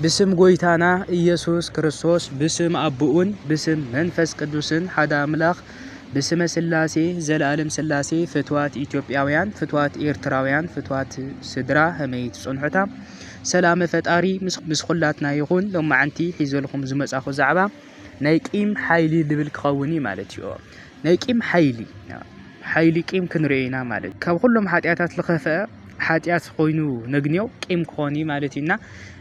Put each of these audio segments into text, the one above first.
ብስም ጎይታና ኢየሱስ ክርስቶስ ብስም ኣቦኡን ብስም መንፈስ ቅዱስን ሓደ ኣምላኽ ብስመ ስላሴ ዘለኣለም ስላሴ ፍትዋት ኢትዮጵያውያን ፍትዋት ኤርትራውያን ፍትዋት ስድራ ከመይ ትጸንሑታ ሰላመ ፈጣሪ ምስ ኩላትና ይኹን ሎማዓንቲ ሒዘልኩም ዝመጻኹ ዛዕባ ናይ ቂም ሓይሊ ልብል ክኸውን እዩ ማለት እዩ ናይ ቂም ሓይሊ ሓይሊ ቂም ክንሪኦ ኢና ማለት እዩ ካብ ኩሎም ሓጢኣታት ዝኸፍአ ሓጢኣት ኮይኑ ነግንዮ ቂም ክኾን እዩ ማለት እዩ እና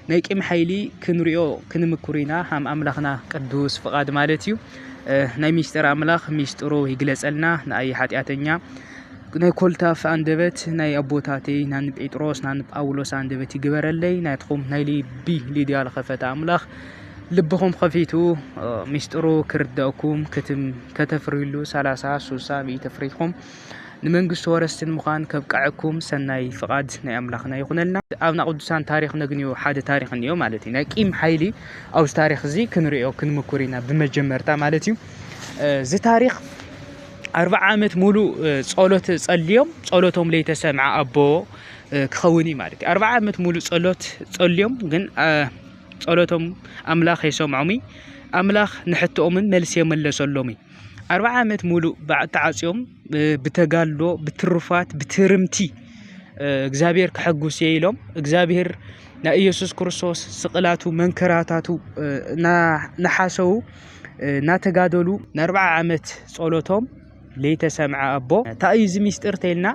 ናይ ቂም ሓይሊ ክንሪኦ ክንምክሩ ኢና ሃም ኣምላኽና ቅዱስ ፍቓድ ማለት እዩ ናይ ሚስጢር ኣምላኽ ሚስጢሩ ይግለጸልና ንኣይ ሓጢኣተኛ ናይ ኮልታፍ ኣንደበት ናይ ኣቦታተይ ናን ጴጥሮስ ናን ጳውሎስ ኣንደበት ይግበረለይ ናትኹም ናይ ልቢ ሊድያ ዝኸፈተ ኣምላኽ ልብኹም ኸፊቱ ሚስጥሩ ክርደኣኩም ክትም ከተፍርይሉ ሰላሳ ሱሳ ሚእቲ ፍሪኹም ንመንግስቱ ወረስቲ ንምዃን ከብቀዐኩም ሰናይ ፍቓድ ናይ ኣምላኽና ይኹነልና። ኣብ ናይ ቅዱሳን ታሪኽ ነግንዮ ሓደ ታሪኽ እኒኦ ማለት እዩ ናይ ቂም ሓይሊ ኣብዚ ታሪኽ እዚ ክንሪኦ ክንምኩር ኢና ብመጀመርታ ማለት እዩ እዚ ታሪኽ ኣርባዓ ዓመት ሙሉእ ጸሎት ጸልዮም ጸሎቶም ለይተሰምዐ ኣቦ ክኸውን እዩ ማለት እዩ ኣርባዓ ዓመት ሙሉእ ጸሎት ጸልዮም ግን ጸሎቶም ኣምላኽ የሰምዖም እዩ። ኣምላኽ ንሕቶኦምን መልሲ የመለሰሎም እዩ። ኣርባዓ ዓመት ሙሉእ ተዓጽዮም ብተጋድሎ ብትሩፋት ብትርምቲ እግዚኣብሔር ከሐጉስ እየ ኢሎም እግዚኣብሔር ናይ ኢየሱስ ክርስቶስ ስቕላቱ መንከራታቱ ናሓሰዉ ናተጋደሉ ንኣርባዓ ዓመት ጸሎቶም ለይተሰምዐ ኣቦ ታይ እዩ እዚ ሚስጥር ተይልና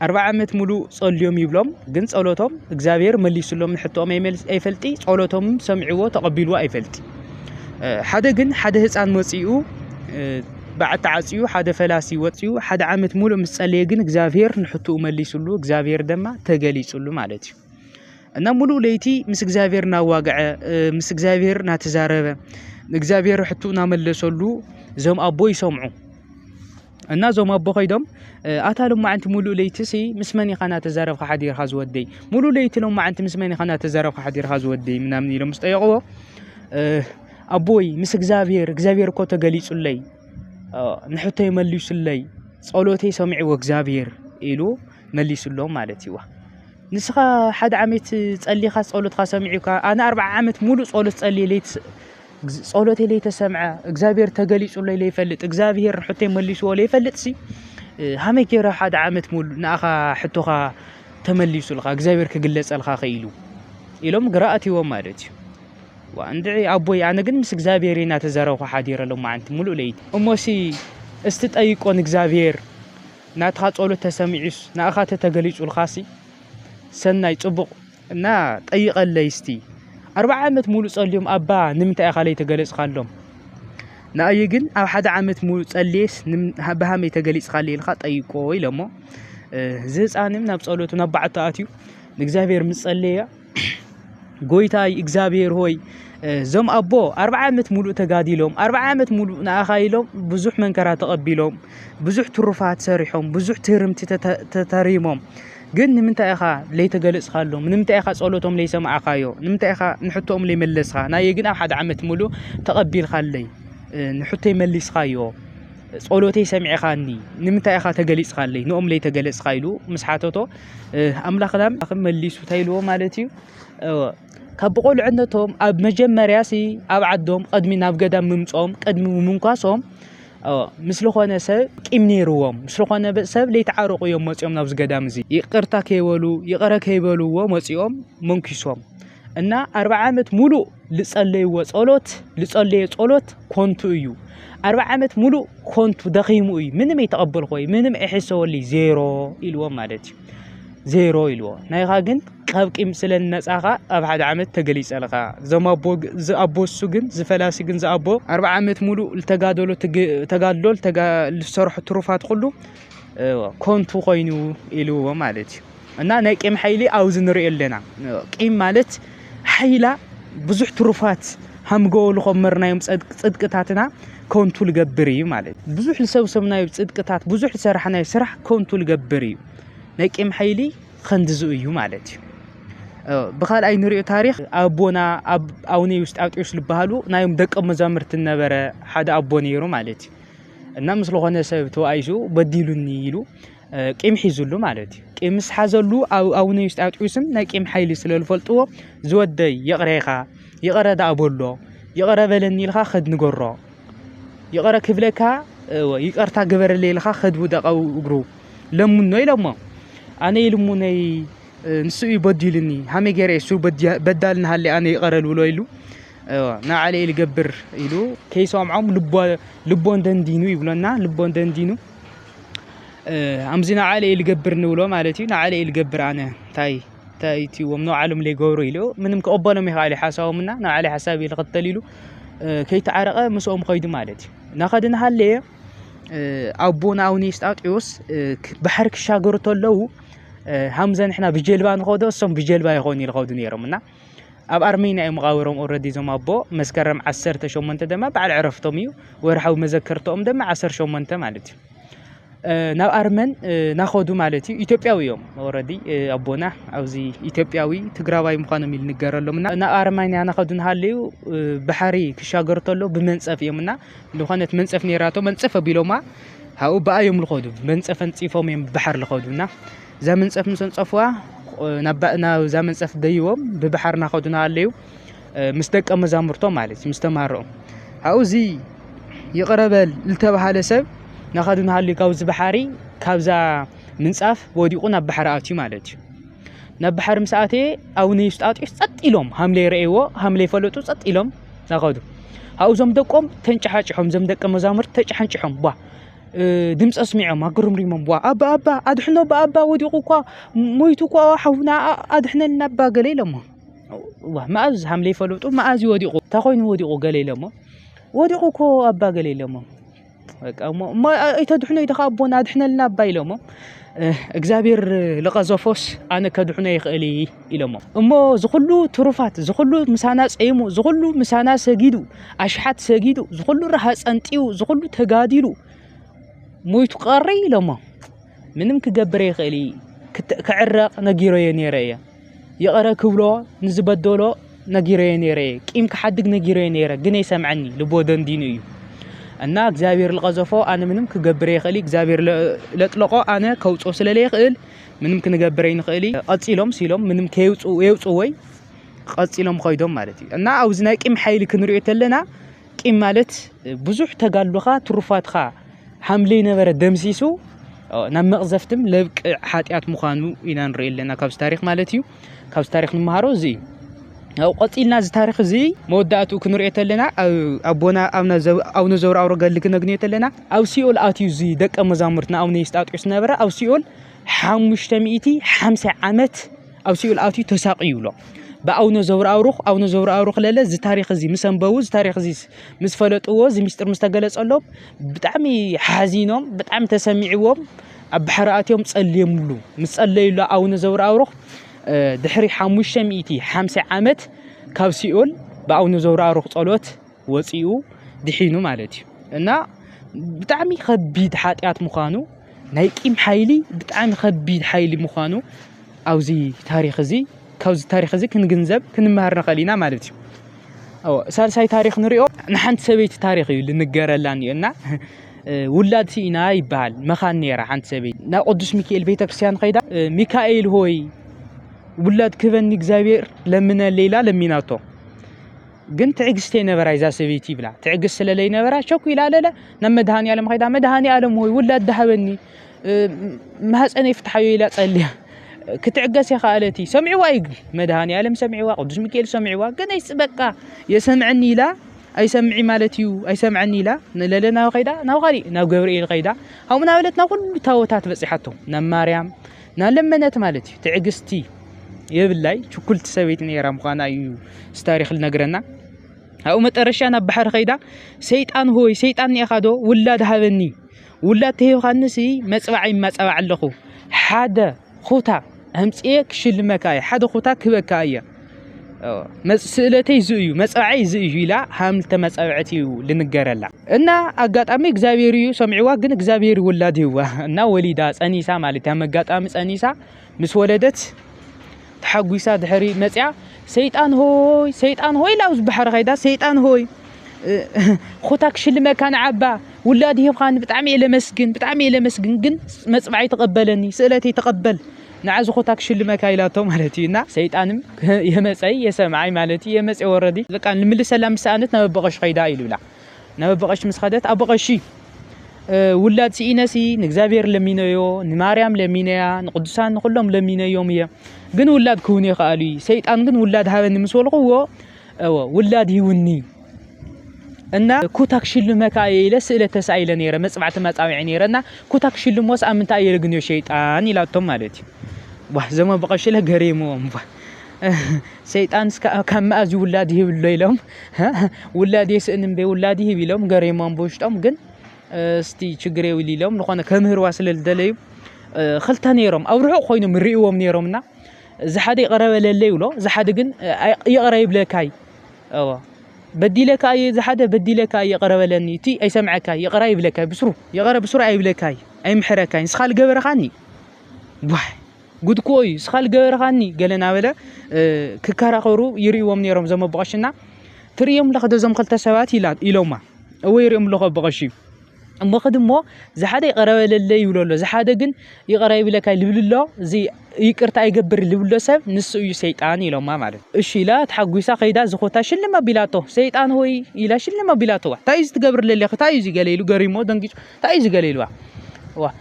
ኣርብዓ ዓመት ሙሉእ ጸልዮም ይብሎም ግን ጸሎቶም እግዚኣብሔር መሊሱሎም ንሕቶኦም ኣይፈልጢ ጸሎቶም ሰሚዕዎ ተቐቢልዎ ኣይፈልጢ ሓደ ግን ሓደ ህፃን መፂኡ በዓት ተዓፅዩ ሓደ ፈላሲ ወፅዩ ሓደ ዓመት ሙሉእ ምስ ጸለየ ግን እግዚኣብሔር ንሕትኡ መሊሱሉ እግዚኣብሔር ደማ ተገሊጹሉ ማለት እዩ እና ሙሉ ለይቲ ምስ እግዚኣብሔር እናዋግዐ ምስ እግዚኣብሔር እናተዛረበ እግዚኣብሔር ሕቱ እናመለሰሉ ዞም ኣቦ ይሰምዑ እና ዞም ኣቦ ከይዶም ኣታ ሎማዓንቲ ሙሉእ ለይቲ ሲ ምስ መን ኢኻ እናተዛረብካ ሓዲርካ ዝወደይ ሙሉእ ለይቲ ሎማዓንቲ ምስ መን ኢኻ እናተዛረብካ ሓዲርካ ዝወደይ ምናምን ኢሎም ምስ ጠየቕዎ ኣቦይ ምስ እግዚኣብሔር እግዚኣብሔር እኮ ተገሊጹለይ ንሕቶይ መሊሱለይ ጸሎተይ ሰሚዕዎ እግዚኣብሔር ኢሉ መሊሱሎም ማለት እዩዋ ንስኻ ሓደ ዓመት ጸሊኻ ጸሎትካ ሰሚዑካ ኣነ ኣርባዓ ዓመት ሙሉእ ጸሎት ጸልየ ለይት ጸሎተይ ለይተሰምዐ እግዚኣብሔር ተገሊጹለይ ለይፈልጥ እግዚኣብሔር ሕቶይ መሊስዎ ለይፈልጥ ሲ ሃመይ ጌረ ሓደ ዓመት ሙሉ ንኣኻ ሕቶኻ ተመሊሱልካ እግዚኣብሔር ክግለጸልካ ክኢሉ ኢሎም ግራ ኣትዎም ማለት እዩ ዋ እንድዒ ኣቦይ ኣነ ግን ምስ እግዚኣብሔር ኢና ተዘረብኩ ሓዲረ ሎማዓንቲ ሙሉእ ለይት እሞሲ እስቲ ጠይቆ ንእግዚኣብሔር ናትኻ ጸሎት ተሰሚዑስ ንኣኻ ተተገሊጹልካሲ ሰናይ ጽቡቕ እና ጠይቐለይ እስቲ ኣርባዓ ዓመት ሙሉ ጸልዮም ኣባ ንምንታይ ኢኻ ለይተገለጽካሎም ንኣየ ግን ኣብ ሓደ ዓመት ሙሉ ጸልየስ ብሃመይ ተገሊጽካለይ ኢልካ ጠይቆ ኢሎሞ እዚ ህፃንም ናብ ጸሎቱ ናብ ባዓቱ ኣትዩ ንእግዚኣብሔር ምስ ጸለየ ጎይታይ እግዚኣብሔር ሆይ እዞም ኣቦ ኣርባዓ ዓመት ሙሉእ ተጋዲሎም ኣርባዓ ዓመት ሙሉእ ንኣኻ ኢሎም ብዙሕ መንከራ ተቐቢሎም ብዙሕ ትሩፋት ሰሪሖም ብዙሕ ትህርምቲ ተተሪሞም ግን ንምንታይ ኢኻ ለይተገለጽካሎም ንምንታይ ኢኻ ጸሎቶም ለይሰማዕካዮ ንምንታይ ኢኻ ንሕቶኦም ለይመለስካ ናየ ግን ኣብ ሓደ ዓመት ሙሉእ ተቐቢልካለይ ንሕቶይ መሊስካዮ ጸሎተይ ሰሚዕኻኒ፣ ንምንታይ ኢኻ ተገሊጽካለይ፣ ንኦም ለይተገለጽካ ኢሉ ምስ ሓተቶ፣ ኣምላኽ ላም መሊሱ እንታይ ኢልዎ ማለት እዩ ካብ ብቆልዕነቶም ኣብ መጀመርያ ሲ ኣብ ዓዶም ቅድሚ ናብ ገዳም ምምጾም ቅድሚ ምንኳሶም ምስ ዝኾነ ሰብ ቂም ነይርዎም ምስ ዝኾነ ሰብ ለይተዓረቑ እዮም መፂኦም ናብዚ ገዳም እዚ ይቅርታ ከይበሉ ይቕረ ከይበልዎ መፂኦም መንኪሶም እና ኣርብዓ ዓመት ሙሉእ ዝጸለይዎ ጸሎት ዝጸለዮ ጸሎት ኮንቱ እዩ ኣርብዓ ዓመት ሙሉእ ኮንቱ ደኺሙ እዩ ምንም ኣይተቐበልኮ እዩ ምንም ኣይሕሰወልይ ዜሮ ኢልዎም ማለት እዩ ዜሮ ኢልዎ ናይኻ ግን ካብ ቂም ስለ ነፃኻ ኣብ ሓደ ዓመት ተገሊፀልኻ እዞም ኣቦ ዝኣቦ እሱ ግን ዝፈላሲ ግን ዝኣቦ ኣርብዓ ዓመት ሙሉእ ዝተጋደሎ ተጋድሎ ዝተሰርሖ ትሩፋት ኩሉ ኮንቱ ኮይኑ ኢልዎ ማለት እዩ እና ናይ ቂም ሓይሊ ኣብዚ ንሪኦ ኣለና ቂም ማለት ሓይላ ብዙሕ ትሩፋት ሃምገዎ ዝኾመርናዮም ፅድቅታትና ከንቱ ልገብር እዩ ማለት እዩ ብዙሕ ዝሰብሰብናዮ ፅድቅታት ብዙሕ ዝሰራሕናዮ ስራሕ ከንቱ ልገብር እዩ ናይ ቂም ሓይሊ ኸንድዚ እዩ ማለት እዩ ብካልኣይ ንሪኦ ታሪክ ኣቦና ኣውነ ውስጣውጢስ ዝበሃሉ ናዮም ደቀ መዛምርቲ ነበረ ሓደ ኣቦ ነይሩ ማለት እዩ እና ምስ ዝኾነ ሰብ ተዋኢሱ በዲሉኒ ኢሉ ቂም ሒዙሉ ማለት እዩ ቂም ምስ ሓዘሉ ኣቡነ ዩስጣጢዮስም ናይ ቂም ሓይሊ ስለ ዝፈልጥዎ ዝወደይ ይቕረ ኢኻ ይቕረ ደኣ በሎ ይቕረ በለኒ ኢልካ ከድ ንገሮ ይቕረ ክብለካ ይቕርታ ግበረለይ ኢልካ ከድ ውደቐው እግሩ ለምኖ ኢሎሞ ኣነ ይልሙነይ ንሱ እዩ በዲሉኒ ሃመይ ገይረ እሱ በዳሊ ናሃለይ ኣነ ይቕረ ልብሎ ኢሉ እወ ንዓለይ ልገብር ኢሉ ከይሰምዖም ልቦ ልቦን ደንዲኑ ይብሎና ልቦን ደንዲኑ ኣምዚ ንዓለይ ልገብር ንብሎ ማለት እዩ ንዓለይ ልገብር ኣነ እንታይ እንታይ እትዎም ንባዕሎም ዘይገብሩ ኢሉ ምንም ክቕበሎም ይኽኣል እዩ ሓሳቦምና ንባዕለይ ሓሳብ እዩ ዝኽተል ኢሉ ከይተዓረቐ ምስኦም ኸይዱ ማለት እዩ ናኸደ ናሃለየ ኣቦና ኣቡነ ኤስጣጥዮስ ባሕሪ ክሻገሩ ተለዉ ሃምዘ ንሕና ብጀልባ ንኸዶ እሶም ብጀልባ ይኾኑ ይልኸዱ ነይሮም እና ኣብ ኣርሜንያ እዩ መቓብሮም ኦረዲ እዞም ኣቦ መስከረም ዓሰርተ ሸሞንተ ድማ በዓል ዕረፍቶም እዩ ወርሓዊ መዘከርተኦም ድማ ዓሰርተ ሸሞንተ ማለት እዩ ናብ ኣርመን ናኸዱ ማለት እዩ ኢትዮጵያዊ እዮም ወረዲ ኣቦና ኣብዚ ኢትዮጵያዊ ትግራዋይ ምዃኖም ኢሉ ንገረሎም እና ናብ ኣርመንያ ናኸዱ ንሃለዩ ባሕሪ ክሻገሩ ተሎ ብመንፀፍ እዮም እና ዝኾነት መንፀፍ ነይራቶ መንፀፍ ኣቢሎማ ሃኡ ብኣ እዮም ልኸዱ መንፀፍ ኣንፂፎም እዮም ብባሕር ልኸዱ እና እዛ መንጸፍ ምስ ኣንጸፍዋ ናብዛ መንጸፍ ደይቦም ብባሕር ናኸዱና ኣለዩ ምስ ደቀ መዛሙርቶ ማለት ምስ ተማሃሮኦም ኣብኡ እዚ ይቕረበል ዝተባሃለ ሰብ ናኸዱ ናሃልዩ ካብዚ ባሓሪ ካብዛ ምንጻፍ ወዲቑ ናብ ባሕሪ ኣትዩ ማለት እዩ ናብ ባሕሪ ምስ ኣተየ ኣቡነ ዩስጣጢስ ጸጥ ኢሎም ሃምለይ ረእይዎ ሃምለይ ፈለጡ ጸጥ ኢሎም ናኸዱ ኣብኡ ዞም ደቆም ተንጨሓጭሖም ዞም ደቀ መዛሙርቲ ተጨሓንጭሖም ቧ ድምፂ ኣስሚዖም ኣጉርምሪሞም ዋ ኣባ ኣባ ኣድሕኖ ኣባ ኣባ ወዲቑ እኳ ሞይቱ እኳ ሓውና ኣድሕነና ኣባ ገለ ኢሎሞ ዋ መኣዝ ዝሃም ለይፈለጡ መኣዝ እዩ ወዲቑ እንታይ ኮይኑ ወዲቑ ገለ ኢሎሞ ወዲቑ እኮ ኣባ ገለ ኢሎሞ በቃ እሞ እሞ ኣይተድሕኖ ኢደኻ ኣቦና ኣድሕነልና ኣባ ኢሎሞ እግዚኣብሔር ልቐዘፎስ ኣነ ከድሕኖ ይኽእል እዪ ኢሎሞም እሞ ዝኹሉ ትሩፋት ዝኹሉ ምሳና ጸይሙ ዝኹሉ ምሳና ሰጊዱ ኣሽሓት ሰጊዱ ዝኹሉ ረሃ ጸንጢዩ ዝኹሉ ተጋዲሉ ሞይቱ ቀሪ ኢሎሞ ምንም ክገብር ይኽእል ክዕረቕ ነጊረዮ ነይረ እየ ይቕረ ክብሎ ንዝበደሎ ነጊረዮ ነይረ እየ ቂም ክሓድግ ነጊረዮ ነይረ ግን ይሰምዐኒ ልቦ ደንዲኑ እዩ እና እግዚኣብሔር ልቐዘፎ ኣነ ምንም ክገብር ይኽእል እግዚኣብሔር ለጥለቆ ኣነ ከውፅኦ ስለለይኽእል ምንም ክንገብር ኣይንኽእል እዩ ቐፂሎም ሲሎም ምንም ከየውፅኡ የውፅወይ ቐፂሎም ኸይዶም ማለት እዩ እና ኣብዚ ናይ ቂም ሓይሊ ክንሪኦ ተለና ቂም ማለት ብዙሕ ተጋድሎኻ ትሩፋትኻ ሓምለይ ነበረ ደምሲሱ ናብ መቕዘፍትም ለብቂ ሓጢኣት ምዃኑ ኢና ንሪኦ ኣለና ካብዚ ታሪክ ማለት እዩ ካብዚ ታሪክ ንመሃሮ እዚ እዩ ያው ቀፂልና እዚ ታሪክ እዚ መወዳእትኡ ክንሪኦ ተለና ኣቦና ኣብነ ዘብረኣውሮ ገድሊ ክነግንዮ ተለና ኣብ ሲኦል ኣትዩ እዚ ደቀ መዛሙርት ንኣብነ ይስጣጥዮስ ነበረ ኣብ ሲኦል ሓሙሽተ ሚእቲ ሓምሳ ዓመት ኣብ ሲኦል ኣትዩ ተሳቅዩ ይብሎ ብኣብነ ዘብረኣውሩኽ ኣብነ ዘብረኣውሩኽ ለለ እዚ ታሪክ እዚ ምስ ኣንበቡ እዚ ታሪክ እዚ ምስ ፈለጥዎ እዚ ምስጢር ምስ ተገለጸሎም ብጣዕሚ ሓዚኖም ብጣዕሚ ተሰሚዕዎም ኣብ ባሕሪ ኣትዮም ጸልየምሉ ምስ ጸለዩሉ ኣቡነ ዘብረኣብሩኽ ድሕሪ ሓሙሽተ ሚእቲ ሓምሳ ዓመት ካብ ሲኦል ብኣቡነ ዘብረኣብሩኽ ጸሎት ወጺኡ ድሒኑ ማለት እዩ እና ብጣዕሚ ከቢድ ሓጢኣት ምዃኑ ናይ ቂም ሓይሊ ብጣዕሚ ከቢድ ሓይሊ ምዃኑ ኣብዚ ታሪክ እዚ ካብዚ ታሪክ እዚ ክንግንዘብ ክንመሃር ንኽእል ኢና ማለት እዩ ሳልሳይ ታሪኽ ንሪኦ ንሓንቲ ሰበይቲ ታሪኽ እዩ ልንገረላ እኒኦ እና ውላድ ስኢና ይበሃል መኻን ነይራ ሓንቲ ሰበይቲ ናብ ቅዱስ ሚካኤል ቤተ ክርስቲያን ከይዳ ሚካኤል ሆይ ውላድ ክበኒ እግዚኣብሔር ለምነለ ኢላ ለሚናቶ ግን ትዕግስቲ ነበራ ይዛ ሰበይቲ ይብላ ትዕግስት ስለለይ ነበራ ሸኩ ኢላ ለለ ናብ መድሃኒ ዓለም ከይዳ መድሃኒ ዓለም ሆይ ውላድ ዳሃበኒ ማህፀነይ ፍትሓዮ ኢላ ፀልያ ክትዕገስ የኸኣለት እዩ ሰሚዕዋ እዩ ግን መድሃኒኣለም ሰሚዕዋ ቅዱስ ሚካኤል ሰሚዕዋ ግን ኣይስ በቃ የሰምዐኒ ኢላ ኣይሰምዒ ማለት እዩ ኣይሰምዐኒ ኢላ ንለለ ናብ ከይዳ ናብ ካሊእ ናብ ገብርኤል ከይዳ ከምኡ እናበለት ናብ ኩሉ ታቦታት በፂሓቶ ናብ ማርያም እናለመነት ማለት እዩ ትዕግስቲ የብላይ ችኩልቲ ሰበይቲ ነይራ ምዃና እዩ እዚ ታሪክ ዝነግረና ኣብኡ መጠረሻ ናብ ባሕሪ ከይዳ ሰይጣን ሆይ ሰይጣን ኒኢኻ ዶ ውላድ ሃበኒ ውላድ ዮሃንስ መጽባዕ ይማጸባዕ ኣለኹ ሓደ ኹታ ኣምጽኤ ክሽልመካ እየ ሓደ ኹታ ክበካ እየ ስእለተይ እዚ እዩ መጸባዕይ እዚ እዩ ኢላ ሃምልተ መጸብዐት እዩ ልንገረላ እና ኣጋጣሚ እግዚኣብሔር እዩ ሰምዕዋ ግን እግዚኣብሔር ውላድ ይዋ እና ወሊዳ ጸኒሳ ማለት እያ መጋጣሚ ጸኒሳ ምስ ወለደት ተሓጒሳ ድሕሪ መፅያ ሰይጣን ሆይ ሰይጣን ሆይ ኢላ ኣብዚ ባሕሪ ከይዳ ሰይጣን ሆይ ኹታ ክሽልመካ ንዓባ ውላድ ሂብካኒ ብጣዕሚ እየ ለመስግን ብጣዕሚ እየ ለመስግን ግን መፅባዕይ ተቐበለኒ ስእለተይ ተቐበል ንዓ ዝኾታ ክሽልመካ ኢላቶ ማለት እዩ እና ሰይጣንም የመፀይ የሰምዓይ ማለት እዩ የመፀ ወረዲ በቃ ንምልሰላ ምሰኣነት ናብ ኣቦቐሽ ከይዳ ኢሉ ብላ ናብ ኣቦቐሺ ምስ ኸደት ኣቦቐሺ ውላድ ስኢነሲ ንእግዚኣብሔር ለሚነዮ ንማርያም ለሚነያ ንቅዱሳን ንኹሎም ለሚነዮም እየ ግን ውላድ ክውን ይኸኣሉ እዩ ሰይጣን ግን ውላድ ሃበኒ ምስ በልኹዎ ውላድ ይውኒ እና ኩታ ክሽልመካ እየ ኢለ ስእለ ተሳኢለ ነይረ መፅባዕቲ መፃዊዒ ነይረ እና ኩታ ክሽልሞስ ኣብ ምንታይ እየ ልግንዮ ሸይጣን ኢላቶም ማለት እዩ ዋ ዘመ በቐሽለ ገሬምዎም ዋ ሰይጣንስ ከኣ ካብ መኣዝ ውላድ ይህብሎ ኢሎም ውላድ የስእን እምበይ ውላድ ይህብ ኢሎም ገሬሞም ብውሽጦም ግን እስቲ ችግር የብሉ ኢሎም ዝኾነ ከምህርዋ ስለ ዝደለዩ ክልተ ነይሮም ኣብ ርሑቕ ኮይኖም ይርእዎም ነይሮምና እዚ ሓደ ይቕረ በለለይ ይብሎ እዚ ሓደ ግን ይቕረ ይብለካ እዩ እዎ በዲለካ እየ እዚ ሓደ በዲለካ እየ ይቕረ በለኒ እቲ ኣይሰምዐካ ይቕረ ይብለካ ብስሩ ይቕረ ብስሩ ኣይብለካ እዩ ኣይምሕረካ እዩ ንስኻ ዝገበርኻኒ ጓሕ ጉድኮ እዩ እስኻ ልገበርኻኒ ገለ ናበለ ክከራኸሩ ይርእዎም ነይሮም ዘሞ ብቐሽና ትርእዮም ለኽ ደዞም ክልተ ሰባት ኢላ ኢሎማ እወ ይርእዮም ኣለኹ ብቐሺ እሞ ኸድ እሞ ዝሓደ ይቐረበለለ ይብሎ ኣሎ ዝሓደ ግን ይቐረ ይብለካ ልብልሎ እዚ ይቅርታ ይገብር ልብሎ ሰብ ንሱ እዩ ሰይጣን ኢሎማ ማለት እሺ ኢላ ተሓጒሳ ከይዳ ዝኾታ ሽልም ኣቢላቶ ሰይጣን ሆይ ኢላ ሽልም ኣቢላቶ እንታይ እዩ ዝትገብርለለኺ እንታይ እዩ እዚ ገለ ኢሉ ገሪሞ ደንጊጹ እንታይ እዩ እዚ ገለ ኢልዋ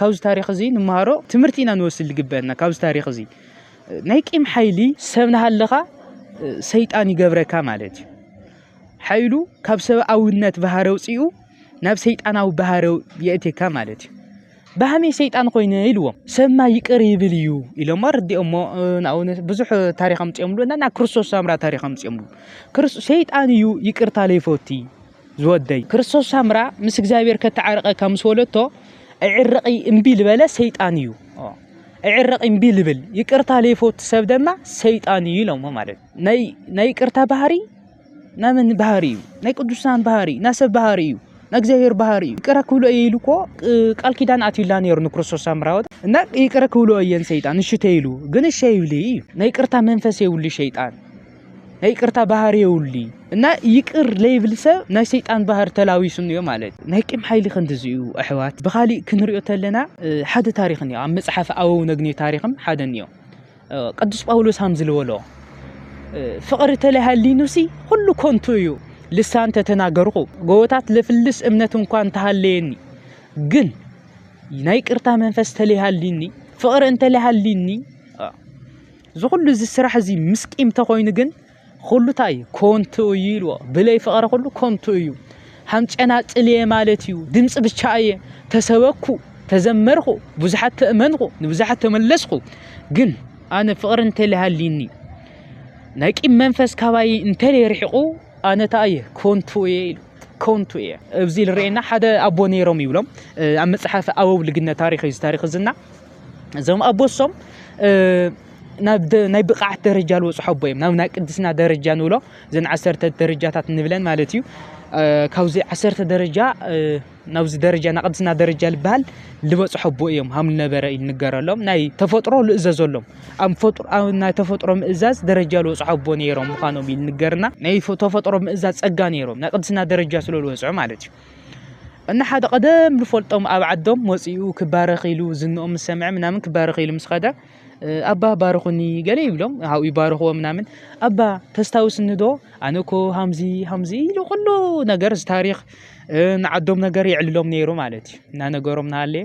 ካብዚ ታሪኽ እዚ ንመሃሮ ትምህርቲ ኢና ንወስድ ዝግበአና ካብዚ ታሪኽ እዚ ናይ ቂም ሓይሊ ሰብ ናሃለኻ ሰይጣን ይገብረካ ማለት እዩ ሓይሉ ካብ ሰብኣውነት ባህረ ውፅኡ ናብ ሰይጣናዊ ባህረ የእቴካ ማለት እዩ ባህመይ ሰይጣን ኮይነ ኢልዎም ሰብማ ይቅር ይብል እዩ ኢሎሞ ኣረዲኦሞ ንኣብነት ብዙሕ ታሪክ ኣምፂኦምሉ እና ናብ ክርስቶስ ሳምራ ታሪክ ኣምፂኦምሉ ሰይጣን እዩ ይቅርታ ለይፈቲ ዝወደይ ክርስቶስ ሳምራ ምስ እግዚኣብሔር ከተዓርቀካ ምስ ወለቶ እዕርቂ እምቢ ልበለ ሰይጣን እዩ እዕርቂ እምቢ ልብል ይቅርታ ለይፈቱ ሰብ ደማ ሰይጣን እዩ ኢሎሞ ማለት ናይ ናይ ይቅርታ ባህሪ ናይ መን ባህሪ እዩ ናይ ቅዱሳን ባህሪ ናይ ሰብ ባህሪ እዩ ናይ እግዚኣብሔር ባህሪ እዩ ይቅረ ክብሎ እየ ኢሉ እኮ ቃል ኪዳን ኣትዩላ ነይሩ ንክርስቶስ ሳምራወት እና ይቅረ ክብሎ እየን ሰይጣን እሽተ ኢሉ ግን እሸ ይብል እዩ ናይ ይቅርታ መንፈስ የብሉ ሸይጣን ናይ ይቅርታ ባህር የውሊ እና ይቅር ለይብል ሰብ ናይ ሰይጣን ባህር ተላዊሱኒዮ ማለት ናይ ቂም ሓይሊ ክንድዚ እዩ ኣሕዋት ብካሊእ ክንሪኦ ተለና ሓደ ታሪክ እኒኦ ኣብ መፅሓፍ ኣበው ነግኒ ታሪክም ሓደ እኒኦ ቅዱስ ጳውሎስ ሃም ዝልበሎ ፍቅሪ ተለሃሊኑሲ ኩሉ ኮንቱ እዩ ልሳን ተተናገርኩ ጎቦታት ለፍልስ እምነት እንኳን እንተሃለየኒ ግን ናይ ቅርታ መንፈስ ተለሃሊኒ ፍቅሪ እንተለሃሊኒ እዚ ኩሉ እዚ ስራሕ እዚ ምስ ቂም ተኾይኑ ግን ኩሉ እንታይ እዩ ኮንቱ እዩ ኢልዎ ብለይ ፍቐረ ኩሉ ኮንቱ እዩ ሃምጨና ጥል እየ ማለት እዩ ድምፂ ብቻ እየ ተሰበኩ ተዘመርኹ ብዙሓት ተእመንኹ ንብዙሓት ተመለስኹ ግን ኣነ ፍቕሪ እንተልሃሊኒ ናይ ቂም መንፈስ ካባይ እንተለይ ርሒቑ ኣነ እንታይ እየ ኮንቱ እየ ኢሉ ከንቱ እየ እብዚ ዝረኤና ሓደ ኣቦ ነይሮም ይብሎም ኣብ መፅሓፍ ኣበው ልግነ ታሪክ እዩ ታሪክ ዝና እዞም ኣቦ ሶም ናብ ናይ ብቕዓት ደረጃ ዝወፁ ሓቦ እዮም ናብ ናይ ቅድስና ደረጃ ንብሎ እዘን ዓሰርተ ደረጃታት ንብለን ማለት እዩ ካብዚ ዓሰርተ ደረጃ ናብዚ ደረጃ ና ቅድስና ደረጃ ዝበሃል ዝበፅሑ ኣቦ እዮም ሃም ነበረ ይንገረሎም ናይ ተፈጥሮ ልእዘዘሎም ኣብ ፈጥሮ ኣብ ናይ ተፈጥሮ ምእዛዝ ደረጃ ልወጽዑ ኣቦ ነይሮም ምዃኖም እዩ ንገርና ናይ ተፈጥሮ ምእዛዝ ጸጋ ነይሮም ናይ ቅድስና ደረጃ ስለ ልወጽዑ ማለት እዩ እና ሓደ ቀደም ልፈልጦም ኣብ ዓዶም ወፂኡ ክባረኽ ኢሉ ዝንኦም ምስ ሰምዐ ምናምን ክባረኽ ኢሉ ምስ ኸደ ኣባ ባርኹኒ ገለ ይብሎም ሃው ይባርኽዎ ምናምን ኣባ ተስታውስኒ ዶ ኣነ እኮ ሃምዚ ሃምዚ ኢሉ ኩሉ ነገር ታሪክ ንዓዶም ነገር የዕልሎም ነይሩ ማለት እዩ እናነገሮም ናሃለየ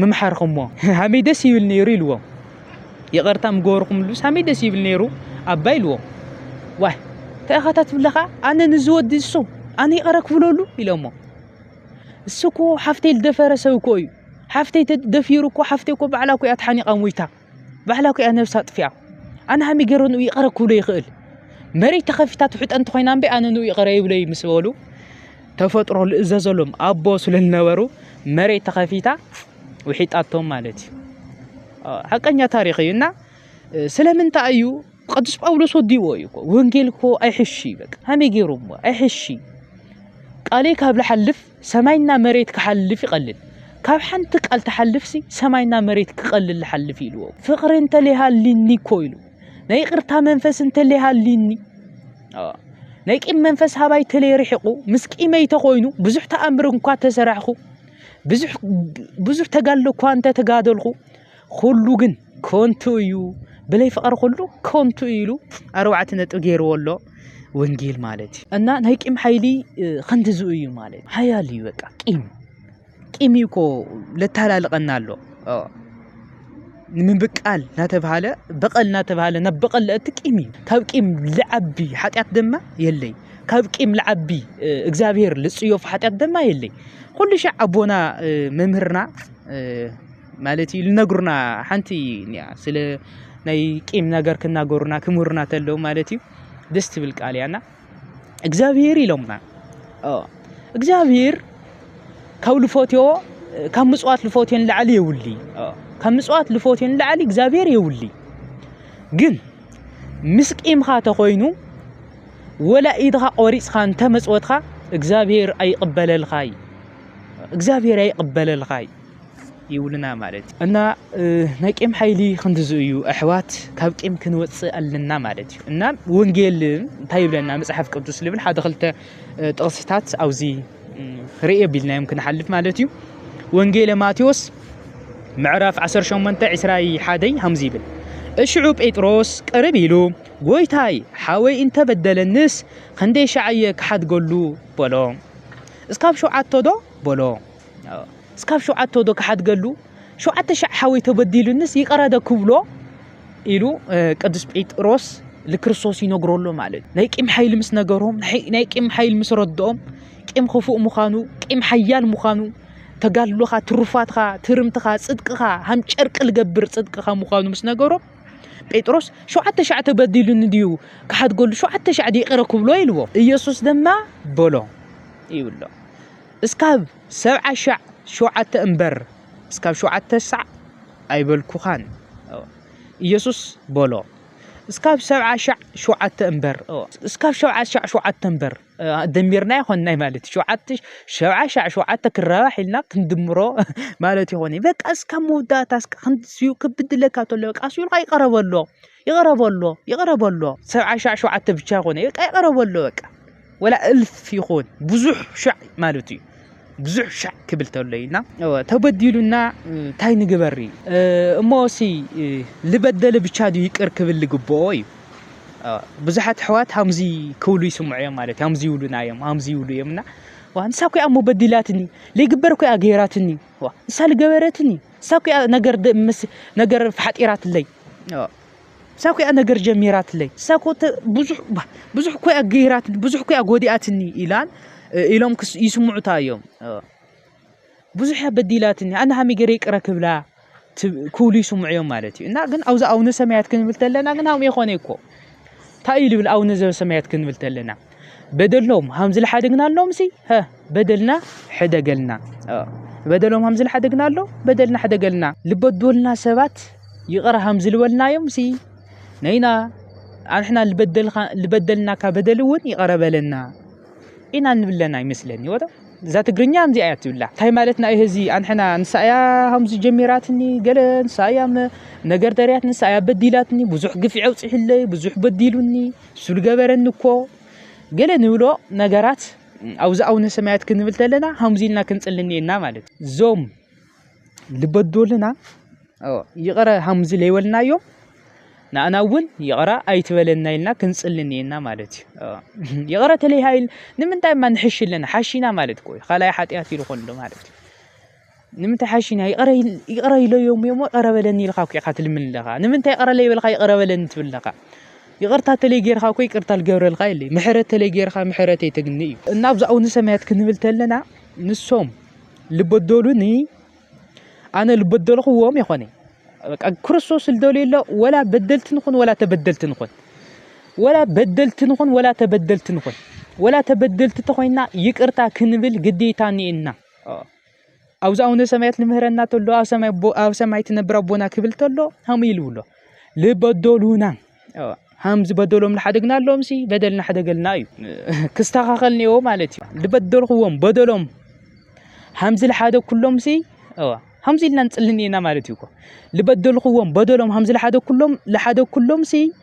ምምሓርኩሞ ሃመይ ደስ ይብል ነይሩ ኢልዎም ይቕርታ ምገበርኩምሉ ሃመይ ደስ ይብል ነይሩ ኣባ ኢልዎም ዋይ እንታይ ኢኻ ትብለኻ ኣነ ንዚ ወዲ እሱ ኣነ ይቕረ ክብለሉ ኢሎሞ እሱ እኮ ሓፍተይ ዝደፈረ ሰብ እኮ እዩ ሓፍተይ ደፊሩ እኮ ሓፍተይ እኮ ባዕላ እኮ እያ ተሓኒቓ ሞይታ ባዕላ እኮ እያ ነብሳ ኣጥፊኣ ኣነ ሃሚ ገይሮ ንኡ ይቕረ ክብሎ ይኽእል መሬት ተኸፊታ ትሑጠ እንተኾይና እምበይ ኣነ ንኡ ይቕረ ይብለይ ምስ በሉ ተፈጥሮ ልእዘዘሎም ኣቦ ስለዝነበሩ መሬት ተኸፊታ ውሒጣቶም ማለት እዩ ሓቀኛ ታሪክ እዩ እና ስለምንታይ እዩ ቅዱስ ጳውሎስ ወዲዎ እዩ እኮ ወንጌል እኮ ኣይሕሺ በቃ ሃመይ ገይሮም ኣይሕሺ ቃለይ ካብ ልሓልፍ ሰማይና መሬት ክሓልፍ ይቀልል ካብ ሓንቲ ቃል ትሓልፍሲ ሰማይና መሬት ክቀልል ልሓልፍ ኢልዎ ፍቅሪ እንተለይሃሊኒ እኮ ኢሉ ናይ ይቅርታ መንፈስ እንተለይሃሊኒ ናይ ቂም መንፈስ ሃባይ ተለይ ርሒቁ ምስ ቂመይ ተኮይኑ ብዙሕ ተኣምር እንኳ ተሰራሕኩ ብዙሕ ተጋድሎ እኳ እንተ ተጋደልኩ ኹሉ ግን ከንቱ እዩ ብለይ ፍቕሪ ኹሉ ከንቱ እዩ ኢሉ ኣርባዕተ ነጥቢ ገይርዎ ኣሎ ወንጌል ማለት እዩ እና ናይ ቂም ሓይሊ ኸንድዚ እዩ ማለት ሓያል እዩ በቃ ቂም ቂም እዩ እኮ ለታላልቐና ኣሎ ንምብቃል እናተብሃለ በቐል እናተብሃለ ናብ በቐል ለእቲ ቂም እዩ ካብ ቂም ልዓቢ ሓጢኣት ድማ የለይ ካብ ቂም ልዓቢ እግዚኣብሔር ልጽዮፍ ሓጢኣት ድማ የለይ ኹሉ ሻዕ ኣቦና መምህርና ማለት እዩ ልነግሩና ሓንቲ እያ ስለ ናይ ቂም ነገር ክናገሩና ክምህሩና ተለው ማለት እዩ ደስ ትብል ቃል እያና እግዚኣብሄር ኢሎምና እግዚኣብሄር ካብ ልፎትዮ ካብ ምፅዋት ልፎትዮ ንላዕሊ የውሊ ካብ ምፅዋት ልፎትዮ ንላዕሊ እግዚኣብሄር የውሊ ግን ምስ ቂምካ ተኾይኑ ወላ ኢድኻ ቆሪፅካ እንተመፅወትካ እግዚኣብሄር ኣይቕበለልካ እዩ እግዚኣብሄር ኣይቕበለልካ እዩ ይብሉና ማለት እዩ እና ናይ ቂም ሓይሊ ክንድዚ እዩ ኣሕዋት ካብ ቂም ክንወፅእ ኣለና ማለት እዩ እና ወንጌል እንታይ ይብለና መፅሓፍ ቅዱስ ልብል ሓደ ክልተ ጥቕስታት ኣብዚ ርእየ ቢልናዮም ክንሓልፍ ማለት እዩ ወንጌለ ማቴዎስ ምዕራፍ 18 ዕስራይ ሓደይ ሃምዚ ይብል እሽዑ ጴጥሮስ ቅርብ ኢሉ ጎይታይ ሓወይ እንተበደለንስ ክንደይ ሻዕየ ክሓድገሉ በሎ እስካብ ሸውዓተ ዶ በሎ እስካብ ሸውዓተ ዶ ክሓድገሉ ሸውዓተ ሻዕ ሓወይ ተበዲሉንስ ይቀረደ ክብሎ ኢሉ ቅዱስ ጴጥሮስ ንክርስቶስ ይነግሮ ኣሎ ማለት እዩ ናይ ቂም ሓይሊ ምስ ነገሮም ናይ ቂም ሓይሊ ምስ ረድኦም ቂም ክፉእ ምዃኑ ቂም ሓያል ምዃኑ ተጋድሎኻ ትሩፋትኻ ትርምትኻ ፅድቅኻ ሃም ጨርቂ ልገብር ፅድቅኻ ምዃኑ ምስ ነገሮም ጴጥሮስ ሸውዓተ ሻዕ ተበዲሉኒ ድዩ ክሓድገሉ ሸውዓተ ሻዕ ድዩ ይቅረ ክብሎ ኢልዎ ኢየሱስ ድማ በሎ ይብሎ እስካብ ሰብዓ ሻዕ ሸውዓተ እምበር እስካብ ሸውዓተ ሳዕ ኣይበልኩኻን ኢየሱስ በሎ እስካብ ሰብዓ ሻዕ ሸውዓተ እምበር እስካብ ሸብዓ ሻዕ ሸውዓተ እምበር ደሚርና ይኾን ናይ ማለት ሸውዓተ ሸብዓ ሻዕ ሸውዓተ ክራባሕ ኢልና ክንድምሮ ማለት ይኾን በቃ እስካብ መወዳእታ እስካ ክንድዝዩ ክብድለካ ተሎ በቃ ኣስቢልካ ይቀረበሎ ይቕረ በሎ ይቕረ በሎ ሰብ ዓሻዕ ሸውዓተ ብቻ ይኾነ በቃ ይቕረ በሎ በቃ ወላ እልፍ ይኹን ብዙሕ ሻዕ ማለት እዩ ብዙሕ ሻዕ ክብል ተሎ ኢና ተበዲሉና እንታይ ንግበሪ እሞ ሲ ልበደለ ብቻ ድዩ ይቅር ክብል ልግብኦ እዩ ብዙሓት ኣሕዋት ሃምዚ ክብሉ ይስምዑ እዮም ማለት ሃምዚ ይብሉና እዮም ሃምዚ ይብሉ እዮም እና ንሳ ኮይ ኣሞ በዲላትኒ ልግበር ኮይ ኣገይራትኒ ንሳ ልገበረትኒ ንሳ ኮይ ነገር ነገር ሓጢራትለይ ሳኮ እያ ነገር ጀሚራትለይ ሳኮ ብዙሕ ብዙሕ እኮ እያ ገይራት ብዙሕ እኮ እያ ጎዲኣትኒ ኢላን ኢሎም ይስምዑታ እዮም ብዙሕ እያ በዲላትኒ ኣነ ሃመይ ገይረ ይቅረ ክብላ ክብሉ ይስምዑ እዮም ማለት እዩ እና ግን ኣብዚ ኣቡነ ሰማያት ክንብል ተለና ግን ሃምኡ ኣይኮነይ እኮ እንታይ እዩ ዝብል ኣቡነ ዘበሰማያት ክንብል ተለና በደሎም ሃምዝል ሓደግናሎም ሲ ሀ በደልና ሕደገልና በደሎም ሃምዝል ሓደግናሎ በደልና ሕደገልና ልበዶልና ሰባት ይቕረ ሃምዝልበልናዮም ሲ ነይና ኣንሕና ልበደልናካ በደል እውን ይቐረ በለና ኢና ንብለና ይመስለኒ ወዶ እዛ ትግርኛ እዚኣ እያ ትብላ እንታይ ማለትና እዩ እዚ ኣንሕና ንሳ እያ ሃምዚ ጀሚራትኒ ገለ ንሳ እያ ነገር ደርያት ንሳ እያ በዲላትኒ ብዙሕ ግፍዒ ኣውፅሕለይ ብዙሕ በዲሉኒ እሱ ዝገበረኒ እኮ ገለ ንብሎ ነገራት ኣብዚ ኣውነ ሰማያት ክንብል ተለና ከምዚ ኢልና ክንፅሊ እኒኤና ማለት እዩ እዞም ልበዶልና ይቕረ ከምዚ ለይበልናዮም ንኣና እውን ይቕረ ኣይትበለና ኢልና ክንፅሊ እኒኤና ማለት እዩ ይቕረ ተለይሃይል ንምንታይ እማ ንሕሽ ኣለና ሓሺና ማለት እኮ እዩ ካልኣይ ሓጢኣት ይልኮ ኣሎ ማለት እዩ ንምንታይ ሓሺና ይቕረ ይቕረ ኢለዮ እሞ ይቕረ በለኒ ኢልካ እኮ ኢኻ ትልምን ዘለኻ ንምንታይ ይቕረ ለይበልካ ይቕረ በለኒ ትብል ዘለኻ ይቕርታ ተለይ ጌርካ እኮ ይቅርታ ልገብረልካ የለይ ምሕረት ተለይ ጌርካ ምሕረት የተግኒ እዩ እና ኣብዛ እውን ሰማያት ክንብል ተለና ንሶም ልበደሉኒ ኣነ ልበደልኽዎም ይኾነ በቃ ክርስቶስ ልደልዩ ኣሎ ወላ በደልቲ ንኹን ወላ ተበደልቲ ንኹን ወላ በደልቲ ንኹን ወላ ተበደልቲ ንኹን ወላ ተበደልቲ ተኾይና ይቅርታ ክንብል ግዴታ እኒኤና ኣብዚ ኣውነ ሰማያት ልምህረና ተሎ ኣብ ሰማይ ትነብር ኣቦና ክብል ተሎ ሃም ኢሉ ብሎ ልበደሉና ሃም ዝበደሎም ንሓደግና ኣሎም ሲ በደልና ሓደገልና እዩ ክስተኻኸል ነዎ ማለት እዩ ልበደልኽዎም በደሎም ሃምዚ ልሓደ ኩሎም ሲ ሃምዚ ኢልና ንፅልን ኢና ማለት እዩ እኮ ልበደልኽዎም በደሎም ሃምዚ ልሓደ ኩሎም ልሓደ ኩሎም ሲ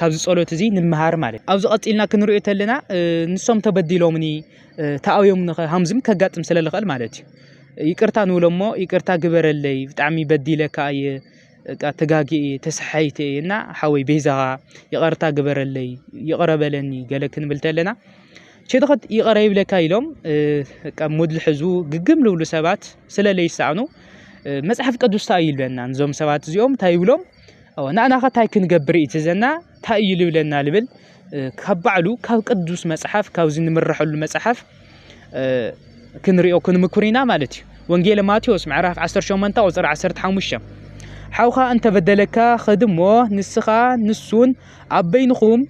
ካብዚ ጸሎት እዚ ንመሃር ማለት እዩ። ኣብዚ ቀጺልና ክንሪኦ ተለና ንሶም ተበዲሎምኒ ተኣውዮምኒኸ ሃምዝም ከጋጥም ስለ ዝኽእል ማለት እዩ ይቅርታ ንብሎ እሞ ይቅርታ ግበረለይ ብጣዕሚ በዲለካ እየ በቃ ተጋጊ እየ ተሰሓይተ እየ እና ሓወይ ቤዛኻ ይቅርታ ግበረለይ ይቅረ በለኒ ገለ ክንብል ተለና ቸድኸት ይቅረ ይብለካ ኢሎም በቃ ሙድ ልሕዙ ግግም ልብሉ ሰባት ስለ ለይሰኣኑ መጽሓፍ ቅዱስ እንታይ እዩ ይብለና ንዞም ሰባት እዚኦም እንታይ ይብሎም ንኣናኸ እንታይ ክንገብር እዩ ዝዘና ታይ እዩ ልብለና ልብል ካብ ባዕሉ ካብ ቅዱስ መጽሓፍ ካብዚ ንምረሐሉ መጽሓፍ ክንሪኦ ክንምክር ኢና ማለት እዩ ወንጌለ ማቴዎስ ምዕራፍ 18 ቁፅሪ 15 ሓውኻ እንተበደለካ ኸድ እሞ ንስኻ ንሱን ኣብ በይንኹም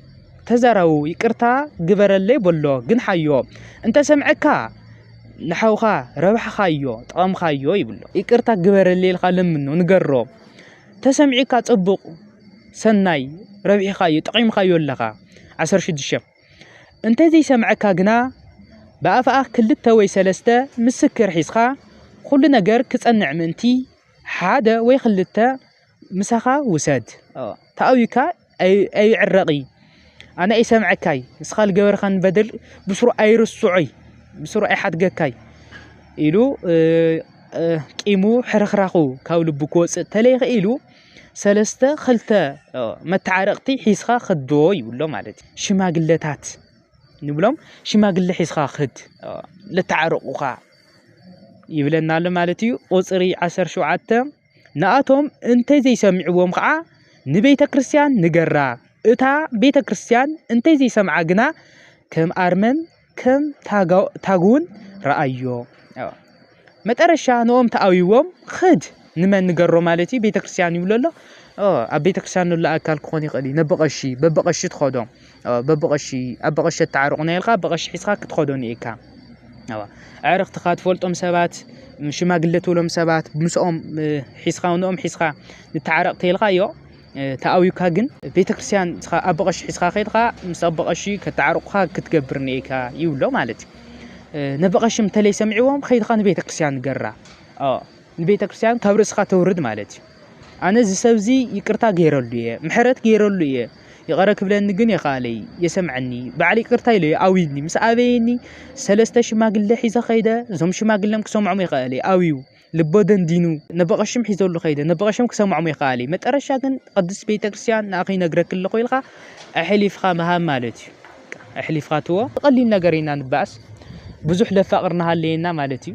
ተዛራቡ ይቅርታ ግበረለይ በሎ ግን ሓዮ እንተሰምዐካ ንሓውኻ ረብሕኻዮ ጠቐምኻዮ ይብሎ ይቅርታ ግበረለይ ኢልካ ለምኖ ንገሮ ተሰሚዑካ ጽቡቅ ሰናይ ረቢሕኻዮ ጠቂምካዮ ኣለኻ ዓሰርተ ሽዱሽተ እንተዘይሰምዐካ ግና ብኣፍኣፍ ክልተ ወይ ሰለስተ ምስክር ሒዝካ ኩሉ ነገር ክጸንዕ ምእንቲ ሓደ ወይ ክልተ ምሳኻ ውሰድ ተኣዊካ ኣይ ኣይዕረቂ ኣነ ኣይሰምዐካይ ንስኻ ዝገበርካኒ በደል ብስሩ ኣይርስዖይ ብስሩ ኣይሓድገካይ ኢሉ ቂሙ ሕርኽራኹ ካብ ልቡ ክወፅእ ተለይኽኢሉ ሰለስተ ኽልተ መተዓረቕቲ ሒዝኻ ኽዶ ይብሎ ማለት እዩ። ሽማግለታት ንብሎም ሽማግለ ሒዝኻ ኽድ ለተዓረቑኻ ይብለና ኣሎ ማለት እዩ። ቁፅሪ ዓሰርተ ሸውዓተ ንኣቶም እንተ ዘይሰሚዕዎም ኸኣ ንቤተ ክርስቲያን ንገራ፣ እታ ቤተ ክርስቲያን እንተ ዘይሰምዓ ግና ከም ኣርመን ከም ታግውን ረኣዮ። መጠረሻ ንኦም ተኣዊዎም ኽድ ንመን ንገሮ ማለት እዩ ቤተ ክርስቲያን ይብሎ ኣሎ ኣብ ቤተ ክርስቲያን ዘሎ ኣካል ክኾን ይኽእል እዩ ነብቐሺ በብቐሺ ትኸዶም በብቐሺ ኣብ በቐሺ ኣተዓርቑና ኢልካ በቐሺ ሒዝካ ክትኸዶ ኒኤካ ኣዕርኽትኻ ትፈልጦም ሰባት ሽማግለ ትብሎም ሰባት ምስኦም ሒዝካ ንኦም ሒዝካ ንተዓረቕ ተይልካ እዮ ተኣውዩካ ግን ቤተ ክርስቲያን ኣብ በቐሺ ሒዝካ ከይድካ ምስ ኣብ በቐሺ ከተዓርቑኻ ክትገብር ኒኤካ ይብሎ ማለት እዩ ንበቐሺ እንተለይ ሰሚዕዎም ከይድካ ንቤተ ክርስቲያን ገራ ንቤተክርስትያን ካብ ርእስኻ ተውርድ ማለት እዩ ኣነ እዚ ሰብ እዚ ይቅርታ ገይረሉ እየ ምሕረት ገይረሉ እየ ይቐረ ክብለኒ ግን የኸኣለይ የሰምዐኒ ባዕሊ ይቅርታ ኢለ ኣውዩኒ ምስ ኣበየኒ ሰለስተ ሽማግለ ሒዘ ከይደ እዞም ሽማግለም ክሰምዖም ይኸኣለ ኣውዩ ልቦ ደንዲኑ ነበቐሽም ሒዘሉ ከይደ ነበቐሽም ክሰምዖም ይኸኣለ መጠረሻ ግን ቅድስት ቤተ ክርስቲያን ንኣኸ ይነግረክ ኣለኹ ኢልካ ኣሕሊፍኻ ምሃብ ማለት እዩ ኣሕሊፍካ ትዎ ቀሊል ነገር ኢና ንበኣስ ብዙሕ ለፋቕር ናሃለየና ማለት እዩ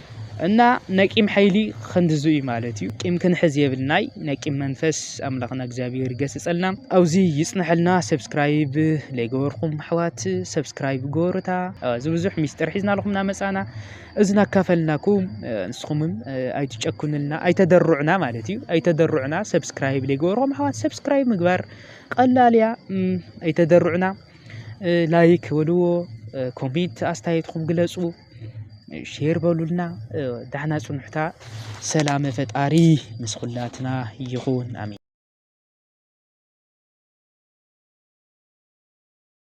እና ነቂም ሐይሊ ኽንድዚ እዩ ማለት እዩ ቂም ክንሕዝ የብልናይ ነቂም መንፈስ ኣምላኽና እግዚኣብሔር ይገስጸልና ኣብዚ ይጽንሐልና ሰብስክራይብ ለይገበርኩም ኣሕዋት ሰብስክራይብ ግበሩታ እዚ ብዙሕ ሚስጥር ሒዝናልኩም ናመጻና እዚ ናካፈልናኩም ንስኹምም ኣይትጨክኑልና ኣይተደርዑና ማለት እዩ ኣይተደርዑና ሰብስክራይብ ለይገበርኩም ኣሕዋት ሰብስክራይብ ምግባር ቀላል እያ ኣይተደርዑና ላይክ ወልዎ ኮሜንት ኣስተያየትኩም ግለጹ ሼር በሉልና ዳሕና ፅንሑታ ሰላመ ፈጣሪ ምስ ኹላትና ይኹን ኣሜን።